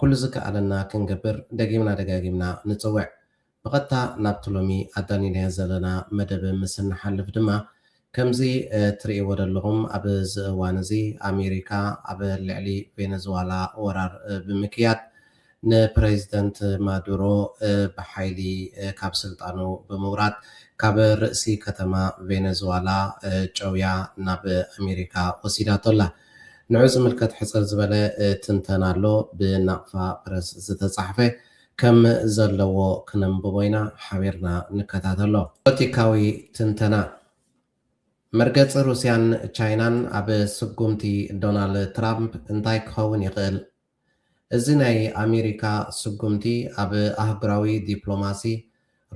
ኩሉ ዝከኣለና ክንገብር ደጊምና ደጋጊምና ንጽውዕ። ብቐጥታ ናብቲ ሎሚ ኣዳሊናዮ ዘለና መደብ ምስ እንሓልፍ ድማ፣ ከምዚ ትርእይዎ ዘለኹም ኣብ እዚ እዋን እዚ ኣሜሪካ ኣብ ልዕሊ ቬነዝዋላ ወራር ብምክያድ ንፕረዚደንት ማዱሮ ብሓይሊ ካብ ስልጣኑ ብምውራድ ካብ ርእሲ ከተማ ቬነዝዋላ ጨውያ ናብ ኣሜሪካ ወሲዳቶ ኣላ። ንዑ ዝምልከት ሕጽር ዝበለ ትንተና ኣሎ ብናቕፋ ፕረስ ዝተጻሕፈ ከም ዘለዎ ክነንብቦ ኢና ሓቢርና ንከታተሎ። ፖለቲካዊ ትንተና፣ መርገጺ ሩስያን ቻይናን ኣብ ስጉምቲ ዶናል ትራምፕ እንታይ ክኸውን ይኽእል? እዚ ናይ ኣሜሪካ ስጉምቲ ኣብ ኣህጉራዊ ዲፕሎማሲ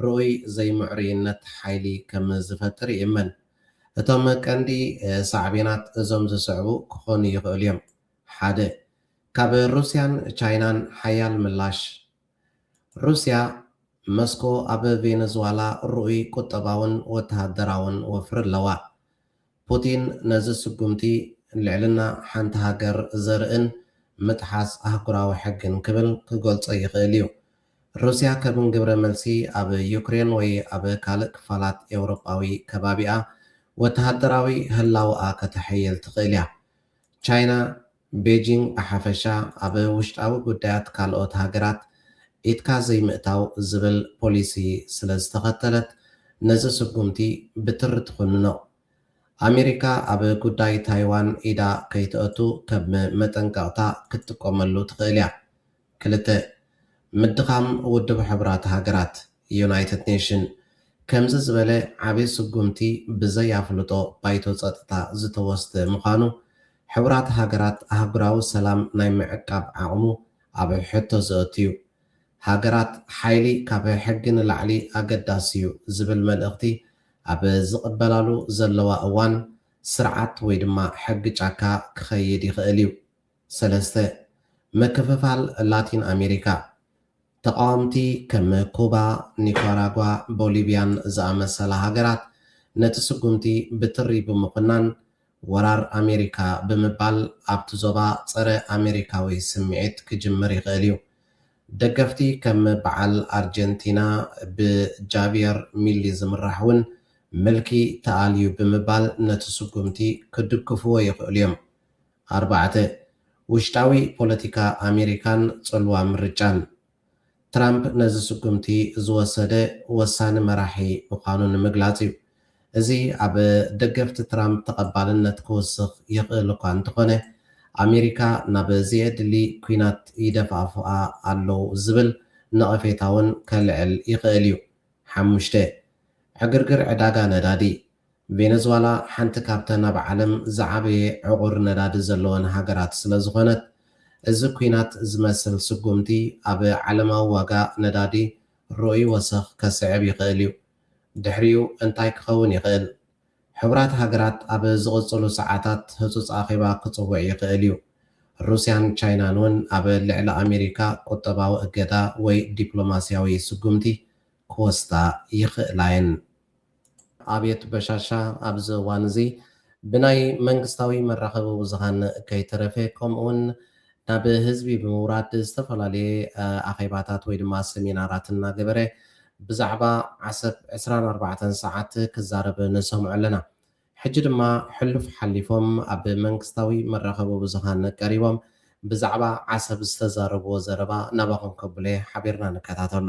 ርኡይ ዘይምዕሩይነት ሓይሊ ከም ዝፈጥር ይእመን። እቶም ቀንዲ ሳዕቤናት እዞም ዝስዕቡ ክኾኑ ይኽእሉ እዮም፣ ሓደ። ካብ ሩስያን ቻይናን ሓያል ምላሽ። ሩስያ፣ መስኮ ኣብ ቬነዝዋላ ርኡይ ቁጠባውን ወተሃደራውን ወፍሪ ኣለዋ። ፑቲን ነዚ ስጉምቲ ልዕልና ሓንቲ ሃገር ዘርእን ምጥሓስ ኣህጉራዊ ሕግን ክብል ክገልጾ ይኽእል እዩ። ሩስያ ከም ግብረ መልሲ ኣብ ዩክሬን ወይ ኣብ ካልእ ክፋላት ኤውሮጳዊ ከባቢኣ ወተሃደራዊ ህላወኣ ከተሐይል ትኽእል እያ። ቻይና፣ ቤጂንግ ብሓፈሻ ኣብ ውሽጣዊ ጉዳያት ካልኦት ሃገራት ኢድካ ዘይምእታው ዝብል ፖሊሲ ስለ ዝተኸተለት ነዚ ስጉምቲ ብትሪ ትኹንኖ። ኣሜሪካ ኣብ ጉዳይ ታይዋን ኢዳ ከይተእቱ ከም መጠንቀቕታ ክትጥቀመሉ ትኽእል'ያ። ክልተ፣ ምድኻም ውድብ ሕቡራት ሃገራት፣ ዩናይትድ ኔሽን፣ ከምዚ ዝበለ ዓቢ ስጉምቲ ብዘይ ኣፍልጦ ባይቶ ጸጥታ ዝተወስደ ምዃኑ፣ ሕቡራት ሃገራት ኣህጉራዊ ሰላም ናይ ምዕቃብ ዓቕሙ ኣብ ሕቶ ዘእቱ'ዩ። ሃገራት ሓይሊ ካብ ሕጊ ንላዕሊ ኣገዳሲ'ዩ ዝብል መልእኽቲ ኣብ ዝቕበላሉ ዘለዋ እዋን፣ ስርዓት ወይ ድማ ሕጊ ጫካ ክኸይድ ይኽእል'ዩ። ሰለስተ፣ ምክፍፋል ላቲን ኣሜሪካ፣ ተቓወምቲ ከም ኩባ፣ ኒኳራጓ፣ ቦሊቪያን ዝኣመሰላ ሃገራት ነቲ ስጉምቲ ብትሪ ብምኹናን ወራር ኣሜሪካ ብምባል ኣብቲ ዞባ ጸረ ኣሜሪካዊ ስምዒት ክጅምር ይኽእል እዩ። ደገፍቲ ከም በዓል ኣርጀንቲና ብጃቪየር ሚሊ ዝምራሕ እውን ምልኪ ተኣልዩ ብምባል ነቲ ስጉምቲ ክድግፍዎ ይኽእሉ እዮም። ኣርባዕተ፣ ውሽጣዊ ፖለቲካ ኣሜሪካን ጽልዋ ምርጫን። ትራምፕ ነዚ ስጉምቲ ዝወሰደ ወሳኒ መራሒ ምዃኑ ንምግላጽ እዩ። እዚ ኣብ ደገፍቲ ትራምፕ ተቐባልነት ክውስኽ ይኽእል እኳ እንተኾነ፣ ኣሜሪካ ናብ ዘየድሊ ኲናት ይደፋፍኣ ኣለው ዝብል ነቐፌታ'ውን ከልዕል ይኽእል እዩ። ሓሙሽተ፣ ዕግርግር ዕዳጋ ነዳዲ። ቬነዝዋላ ሓንቲ ካብተን ኣብ ዓለም ዝዓበየ ዕቑር ነዳዲ ዘለወን ሃገራት ስለዝኾነት፣ እዚ ኲናት ዝመስል ስጉምቲ ኣብ ዓለማዊ ዋጋ ነዳዲ ርኡይ ወሰኽ ከስዕብ ይኽእል እዩ። ድሕሪኡ እንታይ ክኸውን ይኽእል? ሕቡራት ሃገራት ኣብ ዝቕጽሉ ሰዓታት ህጹጽ ኣኼባ ክጽውዕ ይኽእል እዩ። ሩስያን ቻይናን እውን ኣብ ልዕሊ ኣሜሪካ ቁጠባዊ እገዳ ወይ ዲፕሎማስያዊ ስጉምቲ ክወስዳ ይኽእላ እየን። ኣብየት በሻሻ ኣብዚ እዋን እዚ ብናይ መንግስታዊ መራኸቢ ብዙሃን ከይተረፈ ከምኡ ውን ናብ ህዝቢ ብምውራድ ዝተፈላለየ ኣኼባታት ወይ ድማ ሰሚናራት እናገበረ ብዛዕባ ዓሰብ ዕስራን ኣርባዕተን ሰዓት ክዛረብ ንሰምዖ ኣለና። ሕጂ ድማ ሕሉፍ ሓሊፎም ኣብ መንግስታዊ መራኸቢ ብዙሃን ቀሪቦም ብዛዕባ ዓሰብ ዝተዛረብዎ ዘረባ ናባኹም ከብሎየ ሓቢርና ንከታተሎ።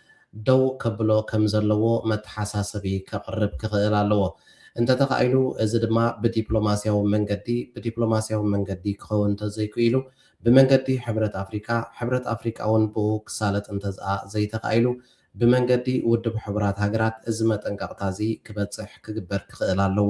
ደው ከብሎ ከም ዘለዎ መተሓሳሰቢ ከቕርብ ክኽእል ኣለዎ። እንተ ተኻኢሉ፣ እዚ ድማ ብዲፕሎማስያዊ መንገዲ፣ ብዲፕሎማስያዊ መንገዲ ክኸውን እንተ ዘይክኢሉ፣ ብመንገዲ ሕብረት ኣፍሪቃ፣ ሕብረት ኣፍሪቃ'ውን ብኡ ክሳለጥ እንተዝኣ ዘይተኻኢሉ፣ ብመንገዲ ውድብ ሕቡራት ሃገራት እዚ መጠንቀቕታ'ዚ ክበጽሕ ክግበር ክኽእል ኣለዎ።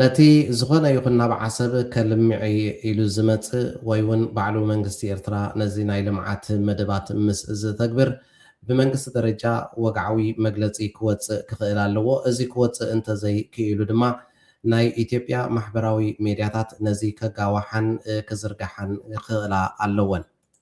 ነቲ ዝኾነ ይኹን ናብ ዓሰብ ከልምዕ'የ ኢሉ ዝመጽእ ወይ'ውን ባዕሉ መንግስቲ ኤርትራ ነዚ ናይ ልምዓት መደባት ምስ ዝተግብር ብመንግስቲ ደረጃ ወግዓዊ መግለጺ ክወጽእ ክኽእል ኣለዎ። እዚ ክወጽእ እንተዘይ ክኢሉ ድማ ናይ ኢትዮጵያ ማሕበራዊ ሜድያታት ነዚ ከጋውሓን ክዝርግሓን ክኽእላ ኣለወን።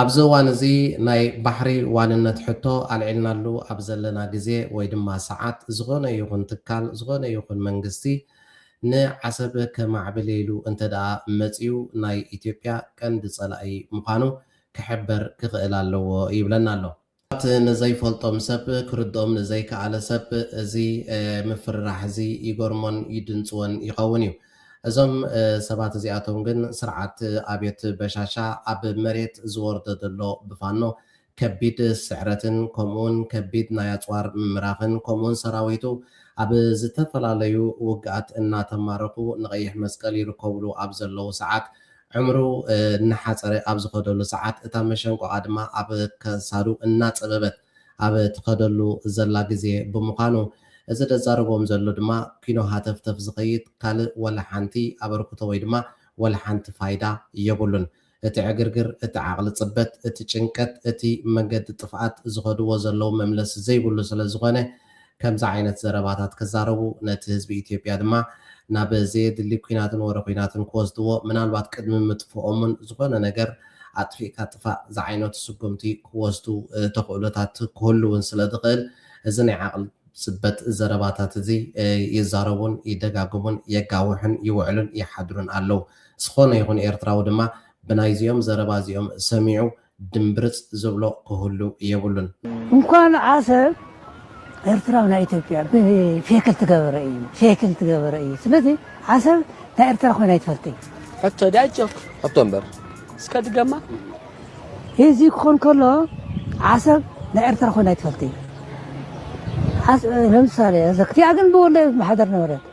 ኣብዚ እዋን እዚ ናይ ባሕሪ ዋንነት ሕቶ ኣልዒልናሉ ኣብ ዘለና ግዜ ወይ ድማ ሰዓት ዝኾነ ይኹን ትካል ዝኾነ ይኹን መንግስቲ ንዓሰብ ከማዕብል ኢሉ እንተድኣ መጺኡ ናይ ኢትዮጵያ ቀንዲ ጸላኢ ምዃኑ ክሕበር ክኽእል ኣለዎ ይብለና ኣሎ። ት ንዘይፈልጦም ሰብ ክርድኦም ንዘይከኣለ ሰብ እዚ ምፍርራሕ እዚ ይገርሞን ይድንጽዎን ይኸውን እዩ። እዞም ሰባት እዚኣቶም ግን ስርዓት ኣብዮት በሻሻ ኣብ መሬት ዝወርዶ ዘሎ ብፋኖ ከቢድ ስዕረትን ከምኡውን ከቢድ ናይ ኣጽዋር ምምራኽን ከምኡውን ሰራዊቱ ኣብ ዝተፈላለዩ ውግኣት እናተማረኹ ንቀይሕ መስቀል ይርከቡሉ ኣብ ዘለዉ ሰዓት ዕምሩ እናሓጸረ ኣብ ዝኸደሉ ሰዓት፣ እታ መሸንቆቓ ድማ ኣብ ከሳዱ እናጸበበት ኣብ ትኸደሉ ዘላ ግዜ ብምዃኑ፣ እዚ ደዛረቦም ዘሎ ድማ ኪኖ ሃተፍተፍ ዝኸይድ ካልእ ወላ ሓንቲ ኣበርክቶ ወይ ድማ ወላ ሓንቲ ፋይዳ የብሉን። እቲ ዕግርግር፣ እቲ ዓቕሊ ጽበት፣ እቲ ጭንቀት፣ እቲ መንገዲ ጥፍኣት ዝኸድዎ ዘለዉ መምለሲ ዘይብሉ ስለ ዝኾነ፣ ከምዚ ዓይነት ዘረባታት ክዛረቡ ነቲ ህዝቢ ኢትዮጵያ ድማ ናብ ዘየድሊ ኲናትን ወረ ኲናትን ክወስድዎ ምናልባት ቅድሚ ምጥፍኦም'ውን ዝኾነ ነገር ኣጥፊእካ ጥፋእ ዝዓይነቱ ስጉምቲ ክወስዱ ተኽእሎታት ክህሉ'ውን ስለዝኽእል እዚ ናይ ዓቕሊ ጽበት ዘረባታት'ዚ ይዛረቡን ይደጋግሙን የጋውሑን ይውዕሉን ይሓድሩን ኣለዉ። ዝኾነ ይኹን ኤርትራዊ ድማ ብናይዚኦም ዘረባ'ዚኦም ሰሚዑ ድምብርጽ ዝብሎ ክህሉ የብሉን። እንኳን ዓሰብ ኤርትራ ናይ ኢትዮጵያ ብፌክል ትገበረ እዩ ፌክል ትገበረ እዩ ስለዚ ዓሰብ ናይ ኤርትራ ኮይና ይትፈልጥ ሕቶ ድያ ጆክ ሕቶ እምበር እስከ ድገማ እዚ ክኾን ከሎ ዓሰብ ናይ ኤርትራ ኮይና ይትፈልጥ እዩ ለምሳሌ ዘክቲያ ግን ብወለ ማሕደር ነበረት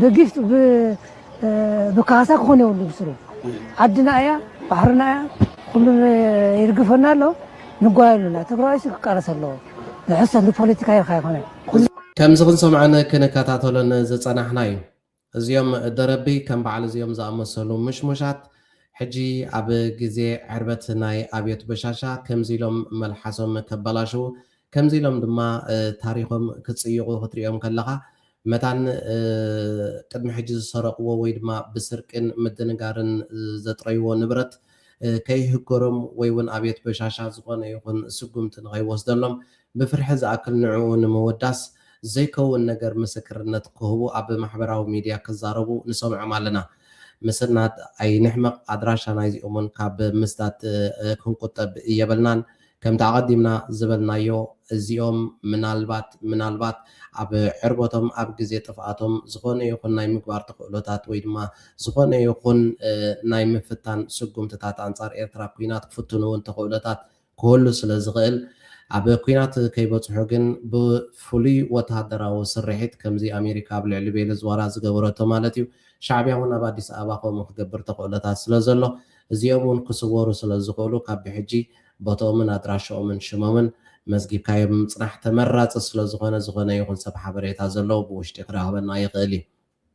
ብጊፍት ብካሳ ክኾን የብሉ ብስሩ ዓድና እያ ባሕርና እያ ኩሉ ይርግፈና ኣሎ ንጓየሉና ትግራዋይሲ ክቃለስ ኣለዎ ንሕሰብ ንፖለቲካ ኢልካ ኣይኮነ ከምዚ ክንሰምዖን ክንከታተሎን ዝጸናሕና እዩ እዚኦም ደረቢ ከም በዓል እዚኦም ዝኣመሰሉ ምሽሙሻት ሕጂ ኣብ ግዜ ዕርበት ናይ ኣብዮት በሻሻ ከምዚ ኢሎም መልሓሶም ከበላሽው ከምዚ ኢሎም ድማ ታሪኾም ክጽይቑ ክትርእዮም ከለኻ፣ መታን ቅድሚ ሕጂ ዝሰረቕዎ ወይ ድማ ብስርቂን ምድንጋርን ዘጥረይዎ ንብረት ከይህገሮም ወይ ውን ኣብየት በሻሻ ዝኾነ ይኹን ስጉምቲ ንኸይወስደሎም ብፍርሒ ዝኣክል ንዕኡ ንምውዳስ ዘይከውን ነገር ምስክርነት ክህቡ ኣብ ማሕበራዊ ሚድያ ክዛረቡ ንሰምዖም ኣለና። ምስናድ ኣይንሕመቕ፣ ኣድራሻ ናይዚኦም ውን ካብ ምስዳድ ክንቁጠብ የብልናን። ከምቲ ኣቐዲምና ዝበልናዮ፣ እዚኦም ምናልባት ምናልባት ኣብ ዕርበቶም፣ ኣብ ግዜ ጥፍኣቶም፣ ዝኾነ ይኹን ናይ ምግባር ተኽእሎታት ወይ ድማ ዝኾነ ይኹን ናይ ምፍታን ስጉምትታት ኣንጻር ኤርትራ ኩናት ክፍትኑ እውን ተኽእሎታት ክህሉ ስለ ዝኽእል ኣብ ኩናት ከይበጽሑ ግን ብፍሉይ ወተሃደራዊ ስርሒት ከምዚ ኣሜሪካ ኣብ ልዕሊ ቬለዝዋላ ዝገበረቶ ማለት እዩ ሻዕብያ እውን ኣብ ኣዲስ ኣበባ ከምኡ ክገብር ተኽእሎታት ስለ ዘሎ እዚኦም እውን ክስወሩ ስለ ዝኽእሉ ካብ ብሕጂ ቦትኦምን ኣድራሽኦምን ሽሞምን መዝጊብካዮ ብምጽናሕ ተመራጺ ስለዝኾነ ዝኾነ ይኹን ሰብ ሓበሬታ ዘለዎ ብውሽጢ ክረኽበና ይኽእል እዩ።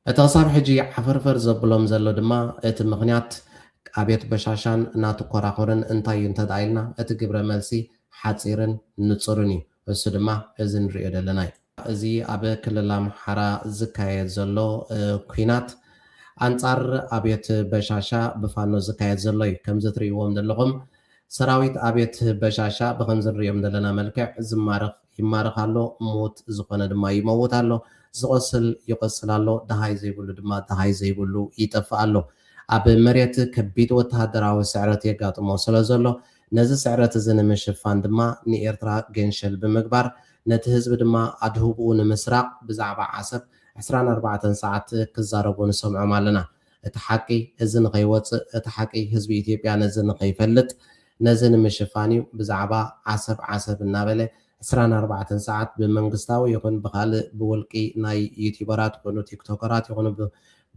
እቲ ክሳብ ሕጂ ዓፈርፈር ዘብሎም ዘሎ ድማ እቲ ምኽንያት ኣብየት በሻሻን እናትኮራኹርን እንታይ እዩ እንተድኣ ኢልና እቲ ግብረ መልሲ ሓጺርን ንጹርን እዩ። እሱ ድማ እዚ ንርእዮ ደለና እዩ። እዚ ኣብ ክልል ኣምሓራ ዝካየድ ዘሎ ኩናት ኣንጻር ኣብዮት በሻሻ ብፋኖ ዝካየድ ዘሎ እዩ። ከምዚ ትርእይዎም ደለኹም ሰራዊት ኣብዮት በሻሻ ብኸምዚ ንርእዮም ደለና መልክዕ ዝማረኽ ይማረኽ ኣሎ፣ ምዉት ዝኾነ ድማ ይመዉት ኣሎ፣ ዝቖስል ይቖስል ኣሎ፣ ደሃይ ዘይብሉ ድማ ደሃይ ዘይብሉ ይጠፍእ ኣሎ። ኣብ መሬት ከቢድ ወተሃደራዊ ስዕረት የጋጥሞ ስለዘሎ፣ ነዚ ስዕረት እዚ ንምሽፋን ድማ ንኤርትራ ገንሸል ብምግባር ነቲ ህዝቢ ድማ ኣድህቦኡ ንምስራቕ ብዛዕባ ዓሰብ ዕስራን ኣርባዕተን ሰዓት ክዛረቡ ንሰምዖም ኣለና። እቲ ሓቂ እዚ ንኸይወጽእ እቲ ሓቂ ህዝቢ ኢትዮጵያ ነዚ ንኸይፈልጥ ነዚ ንምሽፋን እዩ ብዛዕባ ዓሰብ ዓሰብ እናበለ ዕስራን ኣርባዕተን ሰዓት ብመንግስታዊ ይኹን ብኻልእ ብውልቂ ናይ ዩቲበራት ይኹኑ ቲክቶከራት ይኹኑ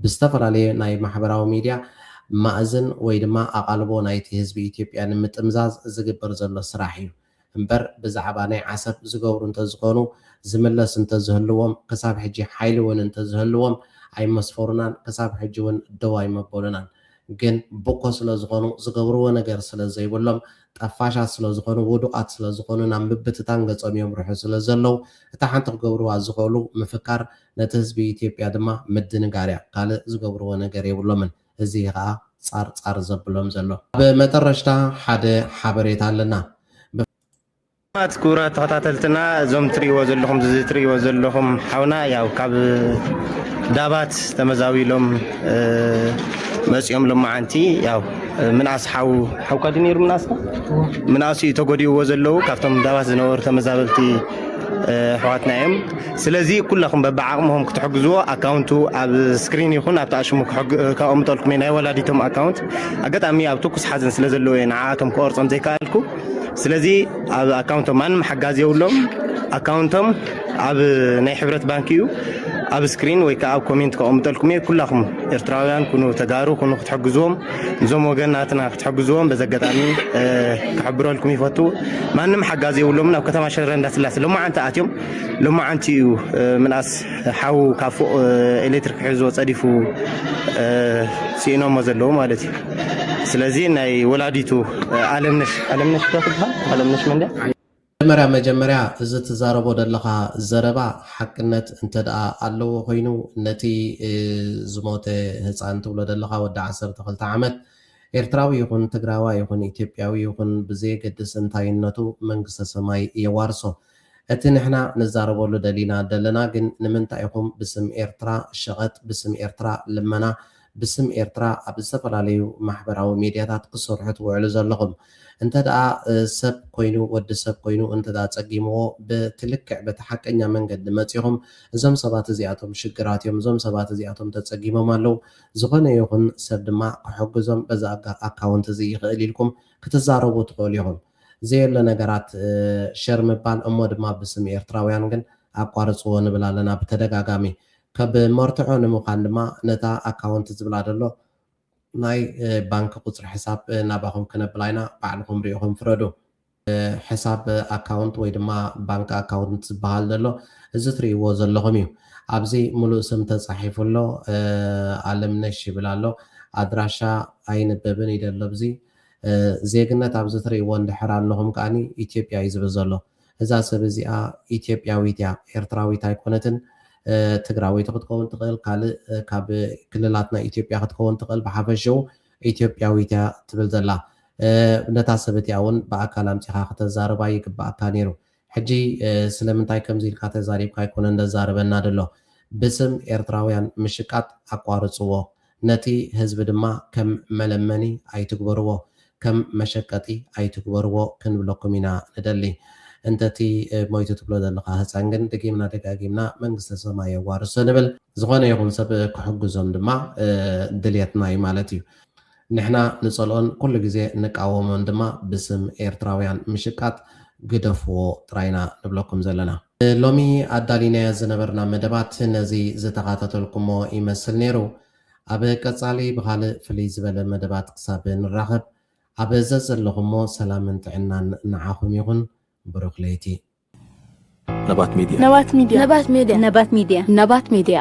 ብዝተፈላለየ ናይ ማሕበራዊ ሚድያ ማእዝን ወይ ድማ ኣቓልቦ ናይቲ ህዝቢ ኢትዮጵያ ንምጥምዛዝ ዝግበር ዘሎ ስራሕ እዩ እምበር ብዛዕባ ናይ ዓሰብ ዝገብሩ እንተዝኾኑ ዝምለስ እንተዝህልዎም ክሳብ ሕጂ ሓይሊ ውን እንተዝህልዎም ኣይመስፈሩናን ክሳብ ሕጂ ውን ደው ኣይመበሉናን ግን ቡኮ ስለዝኾኑ ዝገብርዎ ነገር ስለዘይብሎም ጠፋሻት ስለዝኾኑ ውዱቓት ስለዝኾኑ ናብ ምብትታን ገጾም የምርሑ ስለዘለው እታ ሓንቲ ክገብርዋ ዝኽእሉ ምፍካር ነቲ ህዝቢ ኢትዮጵያ ድማ ምድንጋርያ ካልእ ዝገብርዎ ነገር የብሎምን። እዚ እዩ ከኣ ጻር ጻር ዘብሎም ዘሎ። ኣብ መጠረሽታ ሓደ ሓበሬታ ኣለና። ብ። ስላማት ክቡራት ተኸታተልትና እዞም ትሪእዎ ዘለኹም እዚ ትሪእዎ ዘለኹም ሓውና ያው ካብ ዳባት ተመዛቢሎም መጺኦም ሎማዓንቲ ያው ምንኣስ ሓው ሓውካ ድዩ ነይሩ ምንኣስካ ምንኣስ እዩ ተጎዲእዎ ዘለዉ ካብቶም ዳባት ዝነበሩ ተመዛበልቲ ኣሕዋትና እዮም። ስለዚ ኩለኹም በብዓቕምኹም ክትሕግዝዎ ኣካውንቱ ኣብ ስክሪን ይኹን ኣብቲ ኣሽሙ ከቐምጠልኩም እየ ናይ ወላዲቶም ኣካውንት ኣጋጣሚ ኣብ ትኩስ ሓዘን ስለ ዘለዎ እየ ንዓኣቶም ክቐርጾም ዘይከኣልኩ ስለዚ ኣብ ኣካውንቶም ማንም ሓጋዚ የብሎም ኣካውንቶም ኣብ ናይ ሕብረት ባንክ እዩ ኣብ ስክሪን ወይ ከዓ ኣብ ኮሜንት ከቐምጠልኩም እየ ኩላኹም ኤርትራውያን ኩኑ ተጋሩ ኩኑ ክትሕግዝዎም እዞም ወገናትና ክትሕግዝዎም በዚ ኣጋጣሚ ክሕብረልኩም ይፈቱ ማንም ሓጋዚ የብሎምን ኣብ ከተማ ሽረ እንዳስላሴ ሎማዓንቲ ኣትዮም ሎማዓንቲ እዩ ምንኣስ ሓው ካብ ፎቕ ኤሌክትሪክ ክሕዞ ጸዲፉ ሲኢኖሞ ዘለዉ ማለት እዩ ስለዚ ናይ ወላዲቱ ኣለምነሽ ኣለምነሽ ዶ ትብሃል ኣለምነሽ መን ድያ መጀመርያ መጀመርያ እዚ ትዛረቦ ደለኻ ዘረባ ሓቅነት እንተ ደኣ ኣለዎ ኮይኑ ነቲ ዝሞተ ህጻን ትብሎ ደለኻ ወዲ ዓሰርተ ክልተ ዓመት ኤርትራዊ ይኹን ትግራዋይ ይኹን ኢትዮጵያዊ ይኹን ብዘየገድስ እንታይነቱ መንግስተ ሰማይ የዋርሶ። እቲ ንሕና ንዛረበሉ ደሊና ደለና ግን ንምንታይ ኢኹም ብስም ኤርትራ ሸቐጥ ብስም ኤርትራ ልመና ብስም ኤርትራ ኣብ ዝተፈላለዩ ማሕበራዊ ሜድያታት ክትሰርሑ ትውዕሉ ዘለኹም እንተ ደኣ ሰብ ኮይኑ ወዲ ሰብ ኮይኑ እንተ ደኣ ጸጊምዎ ብቲ ልክዕ በቲ ሓቀኛ መንገዲ መጺኹም እዞም ሰባት እዚኣቶም ሽግራት እዮም እዞም ሰባት እዚኣቶም ተጸጊሞም ኣለዉ ዝኾነ ይኹን ሰብ ድማ ክሕግዞም በዚ ኣካውንት እዚ ይኽእል ኢልኩም ክትዛረቡ ትኽእሉ ኢኹም። ዘየለ ነገራት ሸር ምባል እሞ ድማ ብስም ኤርትራውያን ግን ኣቋርጽዎ ንብል ኣለና ብተደጋጋሚ ከብ መርትዖ ንምዃን ድማ ነታ ኣካውንት ዝብላ ደሎ ናይ ባንኪ ቁጽሪ ሕሳብ ናባኹም ክነብላ ኣይና ባዕልኹም ሪኢኹም ፍረዱ። ሕሳብ ኣካውንት ወይ ድማ ባንኪ ኣካውንት ዝብሃል ደሎ እዚ ትሪኢዎ ዘለኹም እዩ ኣብዚ ምሉእ ስም ተጻሒፉ ኣሎ ኣለምነሽ ይብል ኣሎ ኣድራሻ ኣይንበብን ይደሎ ብዚይ ዜግነት ኣብዚ ትሪእዎ እንድሕር ኣለኹም ከኣ ኢትዮጵያ እዩ ዝብል ዘሎ። እዛ ሰብ እዚኣ ኢትዮጵያዊት እያ ኤርትራዊት ኣይኮነትን። ትግራወይቲ ክትከውን ትኽእል ካልእ ካብ ክልላት ናይ ኢትዮጵያ ክትከውን ትኽእል ብሓፈሽኡ ኢትዮጵያዊት እያ ትብል ዘላ። ነታ ሰብ እቲኣ እውን ብኣካል ኣምጺኻ ክተዛርባ ይግበኣካ ነይሩ። ሕጂ ስለምንታይ ከምዚ ኢልካ ተዛሪብካ ኣይኮነን ዘዛርበና ድሎ ብስም ኤርትራውያን ምሽቃጥ ኣቋርጽዎ ነቲ ህዝቢ ድማ ከም መለመኒ ኣይትግበርዎ ከም መሸቀጢ ኣይትግበርዎ ክንብለኩም ኢና ንደሊ እንተ እቲ ሞይቱ ትብሎ ዘለኻ ህጻን ግን ድጊምና ደጋጊምና መንግስተ ሰማይ የዋርሶ ንብል ዝኾነ ይኹን ሰብ ክሕግዞም ድማ ድልየትና እዩ ማለት እዩ ንሕና ንጸልኦን ኩሉ ግዜ ንቃወሞን ድማ ብስም ኤርትራውያን ምሽቃጥ ግደፍዎ ጥራይ ኢና ንብለኩም ዘለና። ንሎሚ ኣዳሊናዮ ዝነበርና መደባት ነዚ ዝተኻታተልኩሞ ይመስል ነይሩ። ኣብ ቀጻሊ ብኻልእ ፍልይ ዝበለ መደባት ክሳብ ንራኸብ ኣብ ዘዘለኹሞ ሰላምን ጥዕናን ንዓኹም ይኹን። ብሩኽ ለይቲ። ነባት ሜድያ። ነባት ሜድያ። ነባት ሜድያ። ነባት ሜድያ።